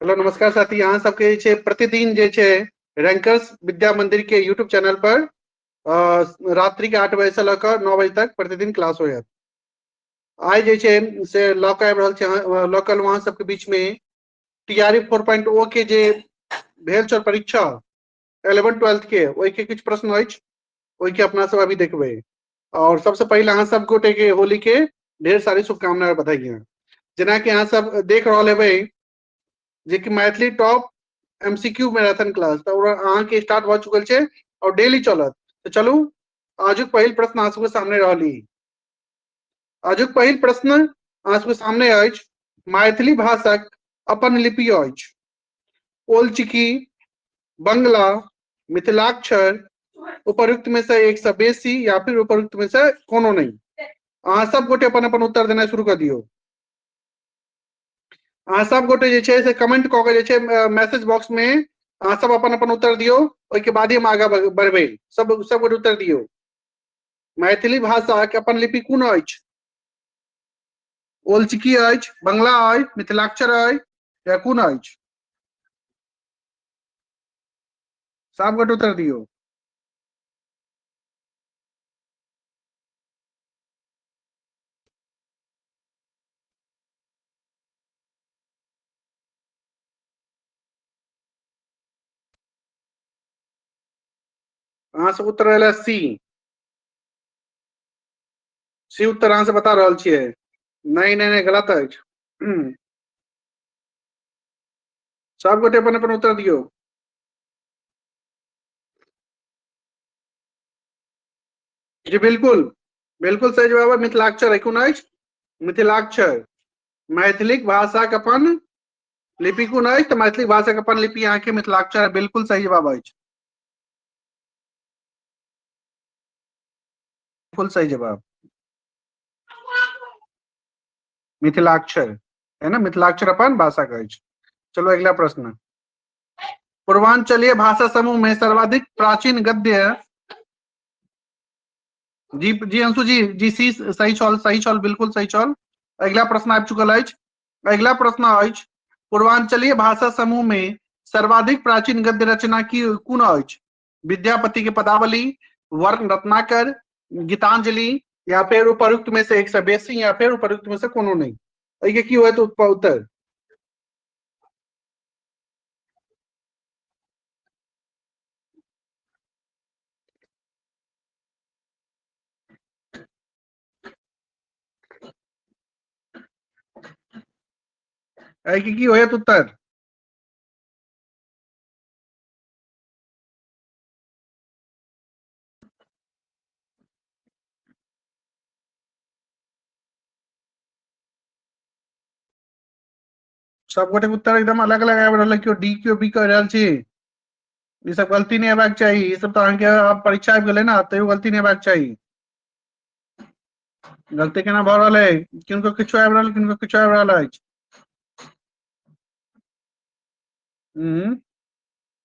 Hello नमस्कार साथी अहाँ सबके जे छै प्रतिदिन जे छै रैंकर्स विद्या मंदिर के यूट्यूब चैनल पर रात्रि के आठ बजे से लऽ कऽ नौ बजे तक प्रतिदिन क्लास होयत आइ जे छै से लऽ कऽ आबि रहल छै लऽ कऽ अहाँ सबके बीच में T R E four point O के जे भेल छल परीक्षा एलेवन ट्वेल्थ के ओहि के किछु प्रश्न अछि ओहि के अपना सब अभी देखबै और सबसे पहले अहाँ सब गोटे के होली के ढेर सारी शुभकामना और बधाई हैं जेना कि अहाँ सब देख रहल हेबै जे कि Maithili top MCQ marathon class तऽ ओकरा अहाँ के स्टार्ट भऽ चुकल छै और डेली चलत तऽ चलू आजुक पहिल प्रश्न अहाँ सबके सामने रहली आजुक पहिल प्रश्न अहाँ सबके सामने अछि मैथिली भाषाक अपन लिपि अछि ओलचिकी बंगला मिथिलाक्षर उपरुक्त में से एक से बेसी या फिर उपरुक्त में से कोनो नहीं अहाँ सब गोटे अपन अपन उत्तर देना शुरू कर दियो अहाँ सब गोटे जे छै से कमेंट कऽ के जे छै मैसेज बॉक्स में अहाँ सब अपन अपन उत्तर दियो ओहि के बाद ही हम आगा बढ़बे सब सब गोटे उत्तर दियो मैथिली भाषा के अपन लिपि कोन अछि ओलचिकी अछि बंगला अछि मिथिलाक्षर अछि या कोन अछि सब गोटे उत्तर दियौ अहाँ सब उत्तर रहलै सी सी उत्तर अहाँ से बता रहल छियै नहीं नहीं नहीं गलत अछि हम्म। सब गोटे अपन अपन उत्तर दियो जी बिल्कुल बिल्कुल सही जवाब है मिथिलाक्षर है कोन अछि मिथिलाक्षर मैथिलिक भाषाक अपन लिपि कोन अछि तऽ मैथिली भाषाक अपन लिपि अहाँके मिथिलाक्षर है बिल्कुल सही जवाब अछि बिल्कुल सही जवाब मिथिलाक्षर है ना मिथिलाक्षर अपन भाषा कहै छै चलो अगला प्रश्न पूर्वांचलीय भाषा समूह में सर्वाधिक प्राचीन गद्य जी जी अंशु जी जी सी सही छल सही छल बिल्कुल सही छल अगला प्रश्न आबि चुकल अछि अगला प्रश्न अछि पूर्वांचलीय भाषा समूह में सर्वाधिक प्राचीन गद्य रचना की कोन अछि विद्यापति के पदावली वर्ण रत्नाकर गीतांजलि या फिर उपरुक्त में से एक से बेसी या फिर उपरुक्त में से कोनो नहीं अइके की होय तो उत्तर अइके की होय तो उत्तर सब गोटे उत्तर एकदम अलग अलग आबि रहल केओ डी केओ बी कह रहल छी ई सब गलती नहीं हेबाक चाहिए ई सब तो अहाँके आब परीक्षा आबि गेलै ने तैयो गलती नहीं हेबाक चाहिए गलती केना भऽ रहल अइ किनको किछो आबि रहल किनको किछो आबि रहल अछि हम्म।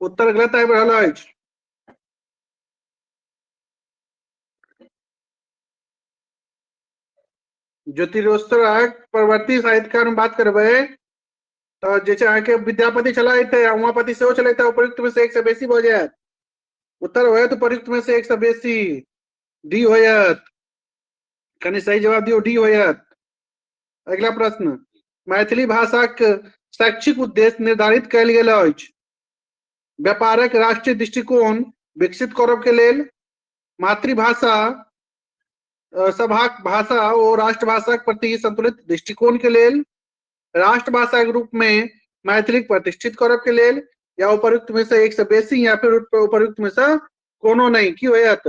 उत्तर गलत आबि रहल अछि ज्योतिरोत्सरक परवर्ती साहित्यकार हम बात करबै तऽ जे छै अहाँके विद्यापति छलथि उमापति सेहो छलथि उपयुक्त में से एक से बेसी भऽ जायत उत्तर होयत उपयुक्त में से एक से बेसी डी होयत कनि सही जवाब दियौ डी होयत अगिला प्रश्न मैथिली भाषाक शैक्षिक उद्देश्य निर्धारित कयल गेल अछि व्यापारक राष्ट्रीय दृष्टिकोण विकसित करब के लेल मातृभाषा अ, सभाक भाषा ओ राष्ट्रभाषाक प्रति संतुलित दृष्टिकोण के लेल राष्ट्रभाषा के रूप में मैथिली के प्रतिष्ठित करब के लेल या उपयुक्त में से एक से बेसी या फिर उप- उपयुक्त में से कोनो नहीं की होयत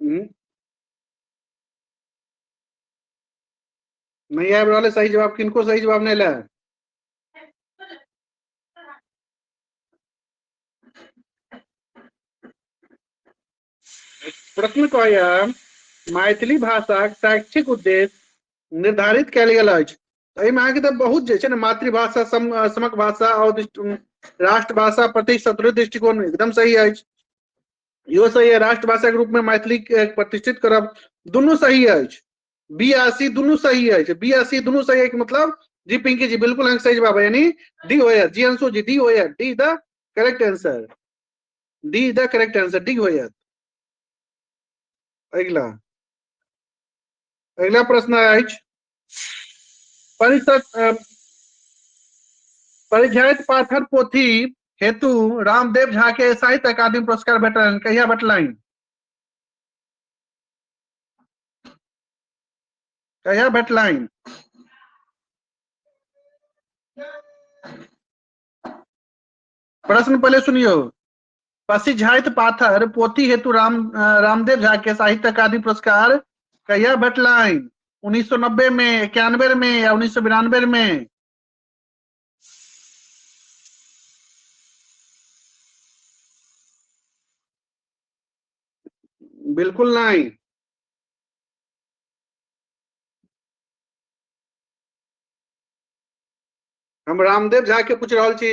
हम्म। नहीं आबि रहल सही जवाब किनको सही जवाब नहीं लायल प्रश्न कहैया मैथिली भाषाक शैक्षिक उद्देश्य निर्धारित कयल गेल अछि तऽ एहिमे अहाँके तऽ बहुत जे छै ने मातृभाषा सम समक भाषा आओर दृष्टि- राष्ट्रभाषा प्रति सदृढ़ दृष्टिकोण एकदम सही अछि इहो सही है राष्ट्रभाषाके रूपमे मैथिलीके प्रतिष्ठित करब दुनू सही अछि बी आ सी दुनू सही अछि बी आ सी दुनू सही अछि मतलब जी पिंकी जी बिल्कुल अहाँके सही जवाब है यानी डी होयर जी अंशु जी डी होयर D the correct answer D is the correct answer D होयर अगला अगिला प्रश्न अछि परिषद परिझैत पाथर पोथी हेतु रामदेव झा के साहित्य अकादमी पुरस्कार भेटलनि कहिया भेटलनि कहिया भेटलनि प्रश्न पहले सुनियो पसिझाइत पाथर पोथी हेतु राम रामदेव झा के साहित्य अकादमी पुरस्कार कहिया भेटलनि उन्नीस सौ नब्बे में इक्यानवे में या उन्नीस सौ बिरानवे में बिल्कुल नहीं हम रामदेव झा के पूछ रहा छी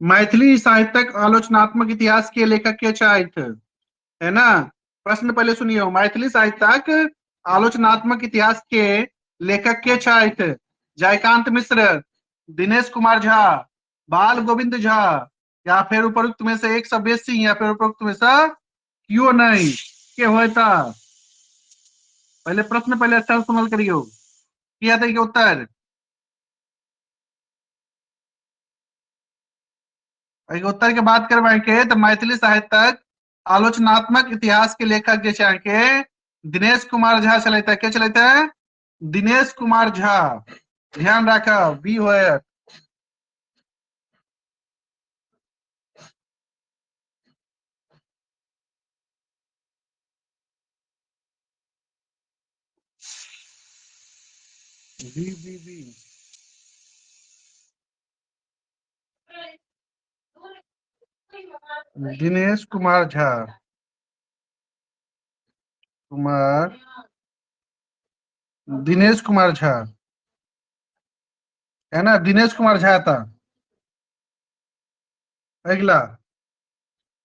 मैथिली साहित्यक आलोचनात्मक इतिहास के लेखक के छथि है ना प्रश्न पहले सुनियो मैथिली साहित्यक आलोचनात्मक इतिहास के लेखक के छथि जयकांत मिश्र दिनेश कुमार झा बाल गोविंद झा या फिर उपरुक्त में से एक सभ्य सिंह या फिर उपरुक्त में से क्यों नहीं के होता पहले प्रश्न पहले अच्छा सुनल करियो किया था उत्तर उत्तर के बात करबे के तो मैथिली साहित्यक आलोचनात्मक इतिहास के लेखक जे अहाँके दिनेश कुमार झा छल के छल दिनेश कुमार झा ध्यान राख बी हो Bi, bi, bi. Dinesh Kumar Jha Kumar Dinesh Kumar Jha है ना दिनेश कुमार झा था अगला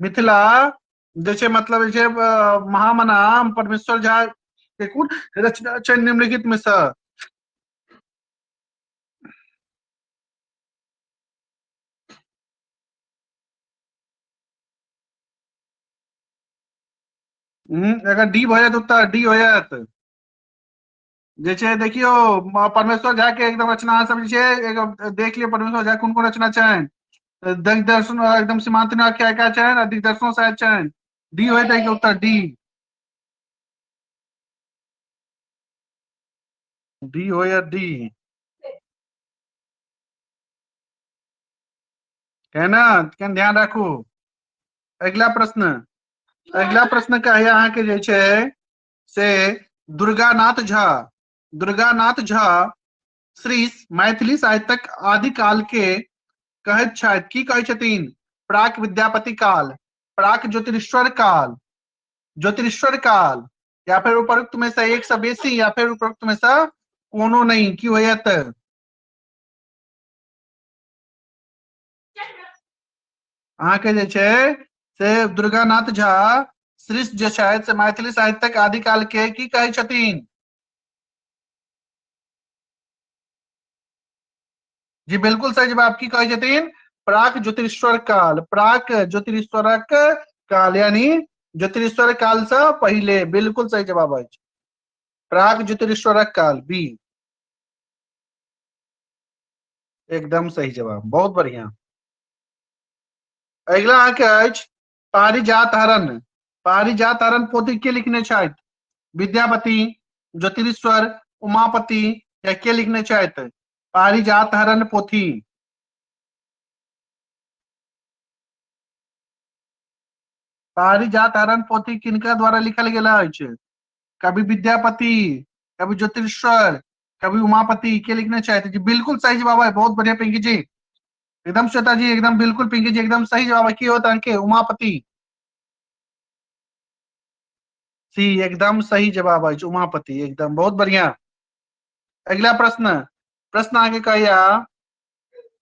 मिथिला जे छै मतलब जे महामना परमेश्वर झा के कोन रचना छै निम्नलिखित में से अगर डी भऽ जायत उत्तर डी हो जायत जे छै देखियौ परमेश्वर झा के एकदम रचना अहाँ सब जे छै एकदम देख लियौ परमेश्वर झा कोन कोन रचना छनि तऽ दिग्दर्शन एकदम सीमांत नाग के आयका छनि आ दिग्दर्शनो शायद छनि डी होइत है उत्तर डी डी हो या डी है ना कन ध्यान राखू अगिला प्रश्न अगिला प्रश्न का है अहाँके जे छै से दुर्गानाथ झा दुर्गानाथ झा श्री मैथिली साहित्यक आदि काल के कहैत छथि की कहै छथिन प्राक विद्यापति काल प्राक ज्योतिरीश्वर काल ज्योतिरीश्वर काल या फिर उपरोक्त में से एक से बेसी या फिर उपरोक्त में से कोनो नहीं की होयत अहाँके जे छै से दुर्गानाथ झा श्रीष जे छथि से मैथिली साहित्यक आदिकाल के की कहै छथिन जी बिल्कुल सही जवाब की कहै छथिन प्राक ज्योतिश्वर काल प्राक ज्योतिश्वरक काल यानी ज्योतिश्वर काल से पहले बिल्कुल सही जवाब अछि प्राक ज्योतिश्वरक काल बी एकदम सही जवाब बहुत बढ़िया अगिला अहाँके अछि पारिजात हरण पारिजात हरण पोथी के लिखने छथि विद्यापति ज्योतिरीश्वर उमापति या के लिखने छथि पारिजात हरण पोथी पारिजात हरण पोथी किनका द्वारा लिखल गेल अछि कवि विद्यापति कवि ज्योतिरीश्वर कभी उमापति के लिखना चाहते जी बिल्कुल सही जवाब है बहुत बढ़िया पिंकी जी एकदम श्वेता जी एकदम बिल्कुल पिंकी जी एकदम सही जवाब है की होता अंके उमापति सी एकदम सही जवाब है उमापति एकदम बहुत बढ़िया अगला प्रश्न प्रश्न आगे कहिया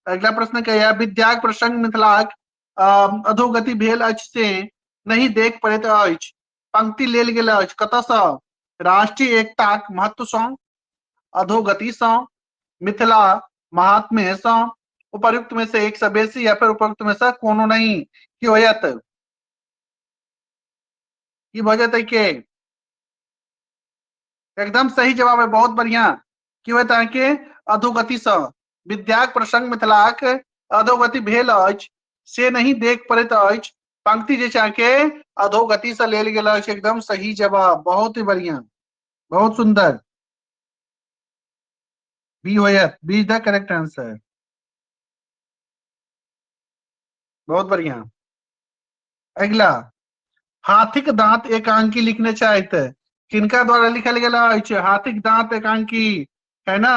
अगला प्रश्न कहिया विद्याक प्रसंग मिथिलाक अधोगति भेल अछि से नहीं देख पड़े तो अछि पंक्ति लेल गेल अछि कतयसँ राष्ट्रीय एकताक महत्वसँ अधोगतिसँ मिथिला महात्म्यसँ उपयुक्त में से एक से बेसी या फिर उपयुक्त में से कोनो नहीं की हो जात की भ जतै के एकदम सही जवाब है बहुत बढ़िया की होत अहाँके अधोगतिसँ विद्याक प्रसंग मिथिलाक अधोगति भेल अछि से नहीं देख पड़ैत अछि पंक्ति जे छै के अधोगति से लेल गेल अछि एकदम सही जवाब बहुत ही बढ़िया बहुत सुंदर बी होयत B is the correct answer बहुत बढ़िया अगला हाथिक दांत एकांकी लिखने चाहते किनका द्वारा लिखल गया हाथिक दांत एकांकी है ना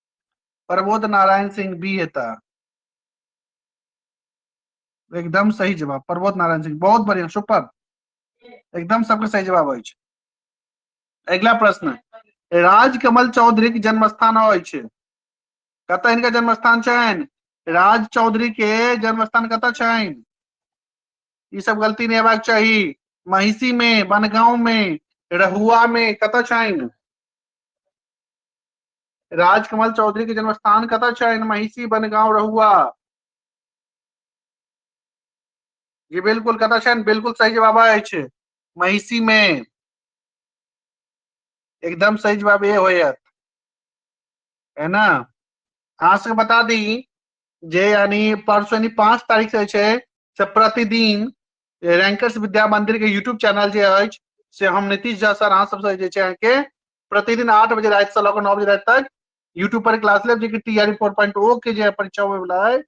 प्रबोध नारायण सिंह बी हेता एकदम सही जवाब प्रबोध नारायण सिंह बहुत बढ़िया सुपर एकदम सबके सही जवाब अछि अगिला प्रश्न राजकमल चौधरी के जन्म स्थान अछि कतऽ हिनका जन्म स्थान छनि राज चौधरी के जन्म स्थान कतऽ छनि ई सब गलती नहीं हेबाक चाही महिषी में बनगांव में रहुआ में कतऽ छनि राजकमल चौधरी के जन्म स्थान कतऽ छै महिषी बनगांव रहुआ ये बिल्कुल कतऽ छै बिल्कुल सही जवाब अछि महिषी मे एकदम सही जवाब ये होयत है ना अहाँ सबके बता दी जे यानी परसों यानी पांच तारीख से छै से प्रतिदिन रैंकर्स विद्या मंदिर के यूट्यूब चैनल जे अछि से हम नीतीश झा सर अहाँ सबसे जे छै अहाँके प्रतिदिन आठ बजे रात से लग नौ बजे रात तक यूट्यूब पर क्लास लेब जेकि T R four point O के जे परीक्षा होवे वाला है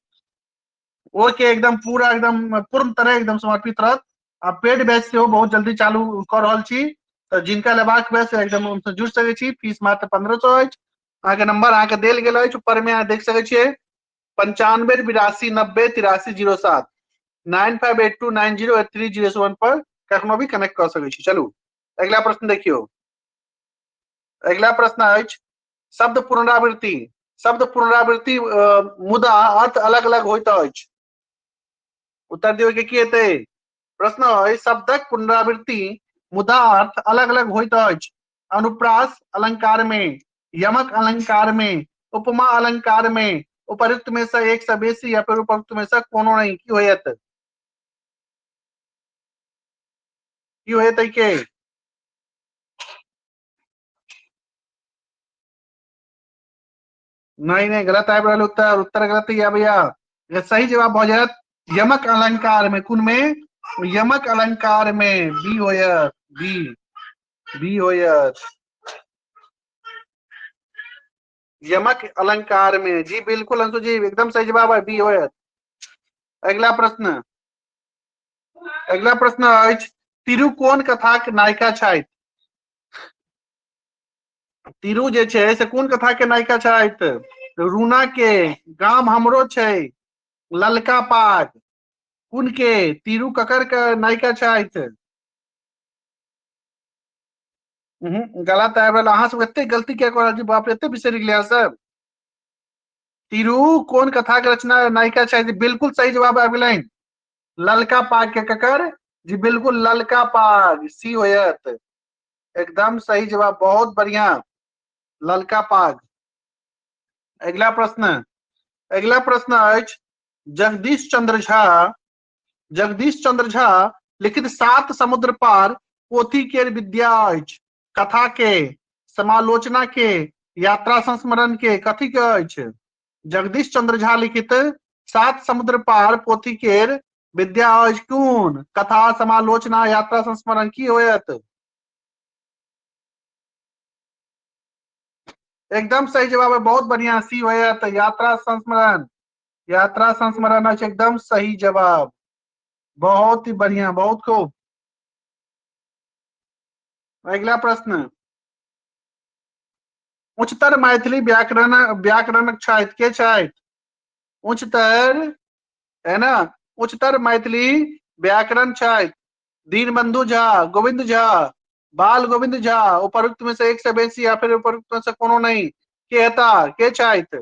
ओ के एकदम पूरा एकदम पूर्ण तरह एकदम समर्पित रहत आ पेड बैच से बहुत जल्दी चालू कर रहा छी तो जिनका लेबाक हुए से एकदम उनसे जुड़ सके छी फीस मात्र पंद्रह सौ है अहाँ के नंबर अहाँ के देल गेल है ऊपर में अहाँ देख सके छे पंचानवे बिरासी नब्बे तिरासी जीरो सात nine five eight two nine zero eight three zero one पर कखनो भी कनेक्ट कर सके छी चलू अगला प्रश्न देखियो अगला प्रश्न अछि शब्द पुनरावृत्ति शब्द पुनरावृत्ति मुदा अर्थ अलग अलग होइत अछि उत्तर दियौ के की हेतै प्रश्न अछि शब्दक पुनरावृत्ति मुदा अर्थ अलग अलग होइत अछि अनुप्रास अलंकार में यमक अलंकार में उपमा अलंकार में उपरुक्त में से एक से बेसी या फिर उपरुक्त में से कोनो नहीं की होयत की होयत के नहीं नहीं गलत आबि रहल उत्तर उत्तर गलत या भैया सही जवाब भऽ जायत यमक अलंकार में कुन में यमक अलंकार में बी होयत बी बी होयत यमक अलंकार में जी बिल्कुल अंशु जी एकदम सही जवाब है बी होयत अगला प्रश्न अगला प्रश्न अछि तिरु कोन कथाक नायिका छथि तिरु जे छै से कोन कथा के नायिका छथि रूना के गाम हमरो छै ललका पाग कुन के तीरू ककर के नायिका छथि हम्म, गलत आबि रहल अहाँ सब एते गलती किया कऽ रहल छी बाप रे एते बिसरि गेलियै अहाँ सब तीरू कोन कथा के रचना नायिका छथि बिल्कुल सही जवाब आबि गेलनि ललका पाग के ककर जी बिल्कुल ललका पाग सी होयत एकदम सही जवाब बहुत बढ़िया ललका पाग अगला प्रश्न अगला प्रश्न अछि जगदीश चंद्र झा जगदीश चंद्र झा लिखित सात समुद्र पार पोथी के विद्या अछि कथा के समालोचना के यात्रा संस्मरण के कथी के अछि जगदीश चंद्र झा लिखित सात समुद्र पार पोथी के विद्या अछि कोन कथा समालोचना यात्रा संस्मरण की होयत एकदम सही जवाब है बहुत बढ़िया सी होयत यात्रा संस्मरण यात्रा संस्मरण अछि एकदम सही जवाब बहुत ही बढ़िया बहुत खूब अगला प्रश्न उच्चतर मैथिली व्याकरण व्याकरण छथि के छथि उच्चतर है ना उच्चतर मैथिली व्याकरण छथि दीनबंधु झा गोविंद झा बाल गोविंद झा उपरुक्त में से एक से बेसी या फिर उपरुक्त में से कोनो नहीं के हेता के छथि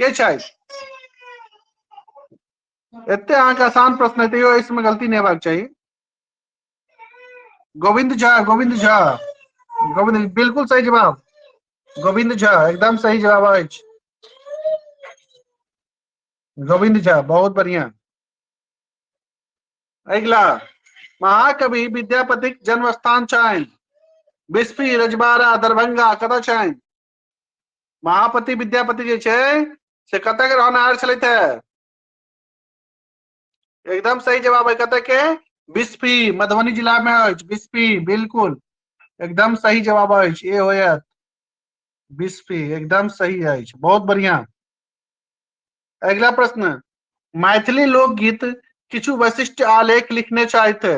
के छै एते अहाँके आसान प्रश्न है तैयो इसमें गलती नहीं हेबाक चाहिए गोविंद झा गोविंद झा गोविंद बिल्कुल सही जवाब गोविंद झा एकदम सही जवाब अछि गोविंद झा बहुत बढ़िया अगला महाकवि विद्यापति जन्म स्थान छनि बिस्फी रजबारा दरभंगा कतऽ छनि महापति विद्यापति जे छै से कतय के रहनार छलथि है एकदम सही जवाब है कतय के बिस्फी मधुबनी जिला में अछि बिस्फी बिल्कुल एकदम सही जवाब अछि ए होयत बिस्फी एकदम सही अछि बहुत बढ़िया अगला प्रश्न मैथिली लोकगीत किछु वैशिष्ट आलेख लिखने चाहते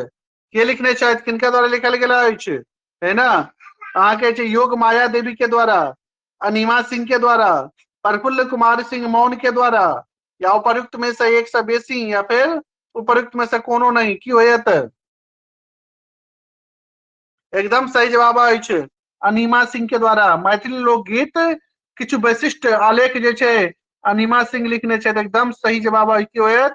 के लिखने छथि किनका द्वारा लिखल गेल अछि है ना अहाँके छै योग माया देवी के द्वारा अनिमा सिंह के द्वारा प्रफुल्ल कुमार सिंह मौन के द्वारा या उपयुक्त में से एक से बेसी या फिर उपयुक्त में से कोनो नहीं की होयत एकदम सही जवाब अछि अनिमा सिंह के द्वारा मैथिली लोकगीत किछु वैशिष्ट आलेख जे छै अनिमा सिंह लिखने छथि एकदम सही जवाब अछि की होयत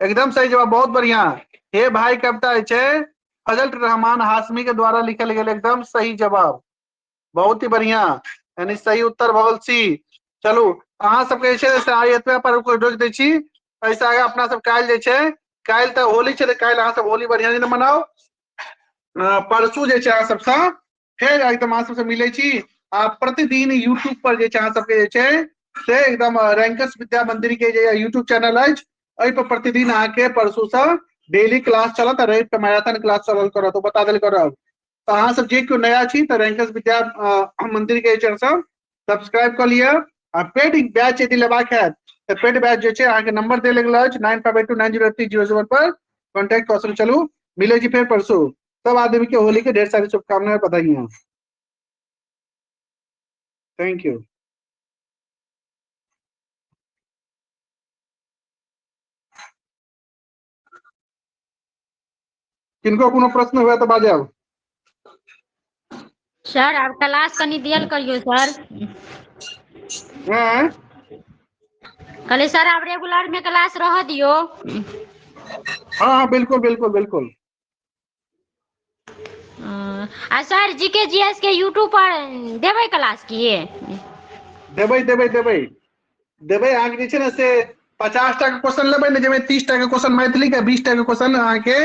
एकदम सही जवाब बहुत बढ़िया हे भाई कविता है फजल रहमान हाशमी के द्वारा लिखल गया एकदम सही जवाब बहुत ही बढ़िया यानी सही उत्तर भगल सी चलू अहा सबके जे छै से आइ एतबे पर रोकि दै छी एहिसँ आगे अपना सब काल्हि जे छै काल्हि तऽ होली छै तऽ काल्हि अहाँ सब होली बढ़िया दिन मनाओ परसू जे छै अहाँ सबसँ फेर एकदम अहाँ सबसँ मिलै छी आ प्रतिदिन यूट्यूब पर जे छै अहाँ सबके जे छै से एकदम रैंकस विद्या मंदिर के जे यूट्यूब चैनल अछि एहि पर प्रतिदिन अहाँके परसू से डेली क्लास चलत रवि के मैराथन क्लास चलल करत ओ बता देल करब तऽ अहाँ सब जे केओ नया छी तऽ रैंकस विद्या मंदिर के चैनल सब सब्सक्राइब कऽ लिअ आ पेड बैच यदि लेबाक हैत तऽ पेड बैच जे छै अहाँके नंबर देल गेल अछि nine five eight two nine zero three zero seven पर कॉन्टैक्ट कऽ सकैत चलू मिलै छी फेर परसू सब आदमी के होली के ढेर सारी शुभकामनाएं बधाइयां थैंक यू किनको कोनो प्रश्न हुआ तो बाजे अब सर आप क्लास कनी दियल करियो सर हैं? कहले सर आप रेगुलर में क्लास रह दियो हाँ हाँ बिल्कुल बिल्कुल बिल्कुल हँ आ सर जी के जी एस के यूट्यूब पर देबै क्लास की देबै देबै देबै देबै अहाँके जे छै ने से पचास टा के क्वेश्चन लेबै ने जाहिमे तीस टा के क्वेश्चन मैथिली के बीस टा के क्वेश्चन अहाँके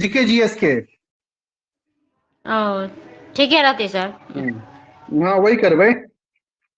जी के जी एस के ओ ठीके रहतै सर हम्म। हँ वही करबै